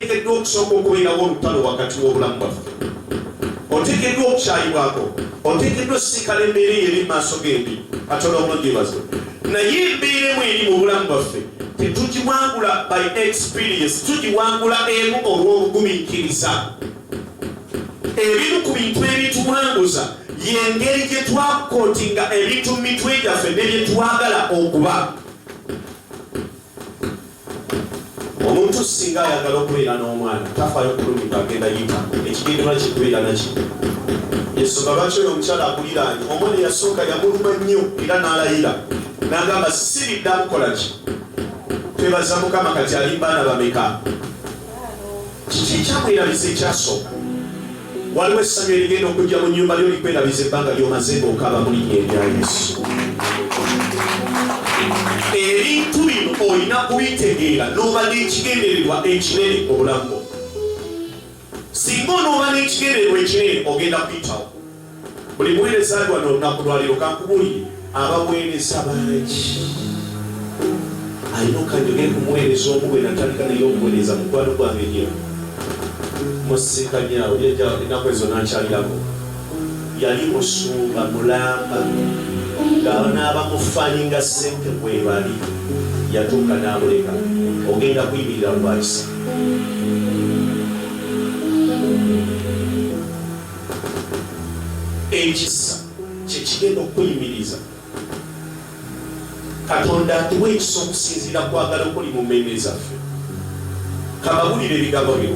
oteekeddwa okusooka okubeerawo olutalo wakati w'obulamu bwaffe oteekeddwa okukyayibwako oteekeddwa osisinkana embeera eyo eri maaso gembi katola omugyebazo naye embeera emu eri mu bulamu bwaffe tetugiwangula by experience tugiwangula emu olw'obugumiikiriza ebimu ku bintu ebituwanguza yengeri gye twakotinga ebintu mu mitwe gyaffe ne bye twagala okuba omuntu singa ayagala okubeera n'omwana tafayo kulumidde agenda yita ekigenderwa kye kubeera naki ensonga lwaki oyo omukyala akuliraanye omwana yasooka yamuluma nnyo era n'alayira nagamba siridda mukola ki twebaza mukama kati ali baana bameka kiki ekyamwerabisa ekyasooka Waliwo essanyu erigenda okujja mu nnyumba lyo likwerabiza ebbanga ly'omaze ng'okaaba mu linnya erya Yesu. Ebintu bino olina kubitegeera n'oba n'ekigendererwa ekinene mu bulamu bwo. Singa onooba n'ekigendererwa ekinene ogenda kuyitawo. buli muweereza ali wano olunaku lwaliro kankubulire abaweereza bangi alina okanjoge kumuweereza omu bwe natandika naye omuweereza mukwano gwange nyo musinkanyaawo jaja enaku ezo nakyalirako yali musumba mulamba ngaabaaba mufalinga sente kwebali yatuuka nabuleka ogenda kuyimirira lwakisa ekisa kye kigenda okukuyimiriza katonda atuwa ekisa okusinziira kwagala okuli mu mmeeme zaffe kababulire ebigambo byo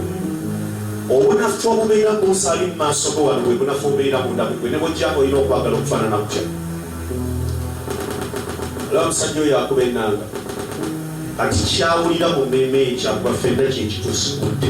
obunafu obubeera munsali mu maaso go wano bwe bunafu obubeera munda mugwe ne bwojja olina okwagala okufaanana kutya olaba musajja oyo akuba enanga kati kyawulira mu mmeeme ekyakuba fenna kyekituusikudde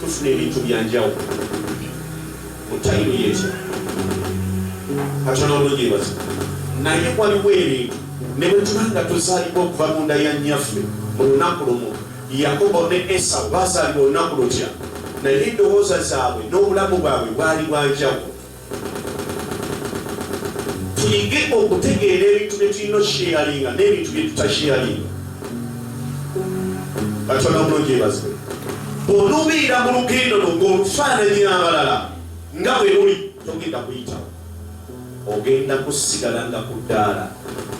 tufuna ebintu byanjawo mutayimu yekyo katono obulungi ebaza naye waliwo ebintu ne bwe tuba nga tuzaalibwa okuva mu nda ya nnyaffe mu lunaku lumu yakobo ne esawu baazaalibwa olunaku lutya naye endowooza zaabwe n'obulamu bwabwe bwali bwanjawo tuyige okutegeera ebintu bye tulina okusheyalinga n'ebintu bye tutasheyalinga katonda bulungi ebaze bw'onubiira mu lugendo lwo ng'olufaananyi abalala nga bwe luli togenda kuyitawo ogenda kusigala nga ku ddaala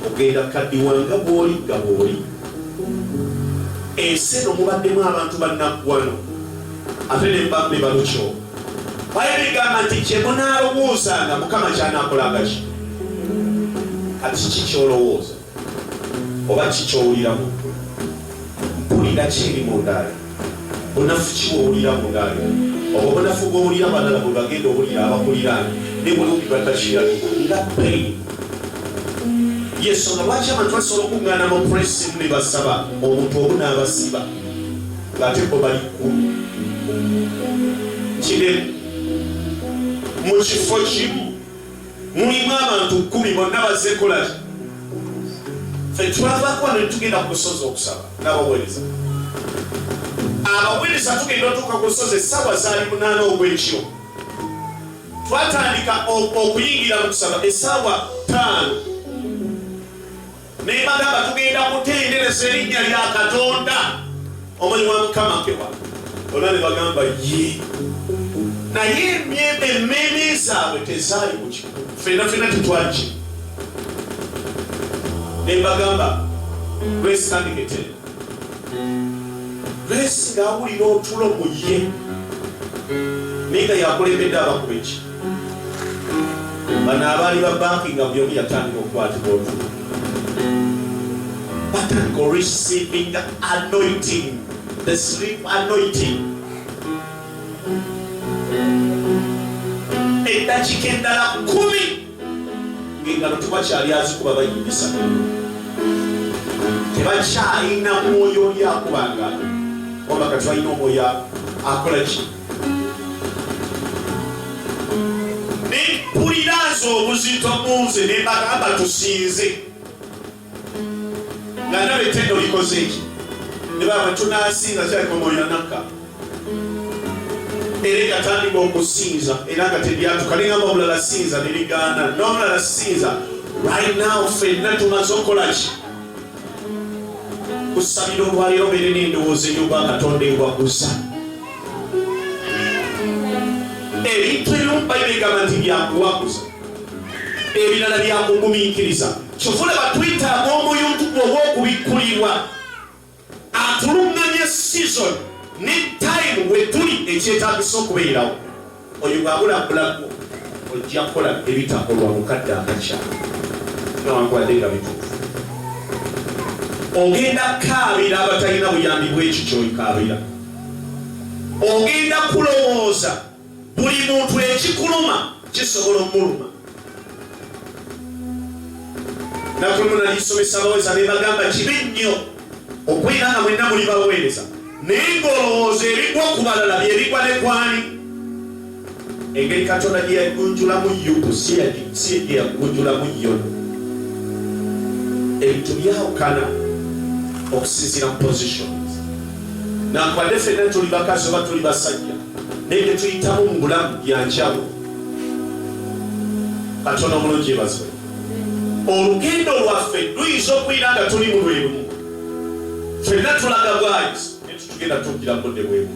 ogenda kadiwa nga bw'oli nga bw'oli ensi eno mubaddemu abantu bannaggwano ate ne mbambi balukyo bayibuli gamba nti kye munalowoozanga mukama kyanakolanga ki kati ki kyolowooza oba kikyowuliramu mpulira kiri mundaali bunafu kiwowulira mundaali obwo bunafu bwowulira balala bwe bagenda owulira abakuliraani ne bulungi batakirabi nga pain yesonga lwaki abantu basobola okuŋŋaana mu presi ne basaba omuntu omu n'abasiba ng'ate bo bali ku kinene mu kifo kimu mulimu abantu kkumi bonna bazze kolaki fe twavaako wano netugenda ku lusozi okusaba n'abaweereza abaweereza tugenda otuuka ku lusozi essaawa zaali munaana ogw'ekiro twatandika okuyingira mu kusaba essaawa ttaano naye bagamba tugenda kutendereza erinnya lya katonda omanyi wa mukama kewa olwa ne bagamba ye naye emmeeme zaabwe tezaali kuki fena fena tetwaki ne bagamba lwesitandiketera lwesi ngaawulira otulo mu ye naye nga yakulembedde abakuba eki bano abaali ba banki nga buli omu yatandika okukwatibwa otulo batandika receiving anointing the sleep anointing eddakiika endala kumi ng'engalo tewakyali azikuba bayimbisa tebakyalina mwoyo oli akubanga wabakati balina omwoyo akolaki nempuliraza obuzito munze nembagamba tusinze nga ndaba ettendo likoze eki nebaba tunasinza kyakomolera nakka era egatandika okusinza era nga tebyatuka nengamba omulala sinza nebigaana nomulala sinza right now fenna tumaze okukolaki kusabira olwaleero beere n'endowooza ey'oba katonda ewaguza ebintu ebimu bayibuli egamba nti byakuwaguza ebirala byakugumiikiriza kyofuna batwetaaga omuyuntu gwe ow'okubikkulirwa atuluŋŋamya sizoni ne tayimu we tuli ekyetaagisa okubeerawo Oyo bwabula bulago ojja kukola ebitakolwa mu kadde akakya newankubadde nga bituufu. Ogenda kukaabira abatalina buyambi bw'ekyo ky'oyikaabira. Ogenda kulowooza buli muntu ekikuluma kisobola omuluma. Nakulumuna lisomesa abaweza ne bagamba kibi nnyo. okubeera nga mwenna muli baweereza naye ng'olowooza ebigwa ku balala bye bigwa ne kwani engeri katonda gye yagunjulamu yubu si gye yagunjulamu yobu ebintu byawukana okusinzira mu positions nakwade fenna tuli bakazi oba tuli basajja naye byetuyitamu mu bulamu byanjawulo katonda omulungi ebazibwe olugendo lwaffe luyinza okuyira nga tuli mu lwerumu fenna tulaga bwayizi netutugenda tugira budde bwebu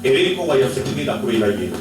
era enkowa yaffe tugenda kubeera yeemu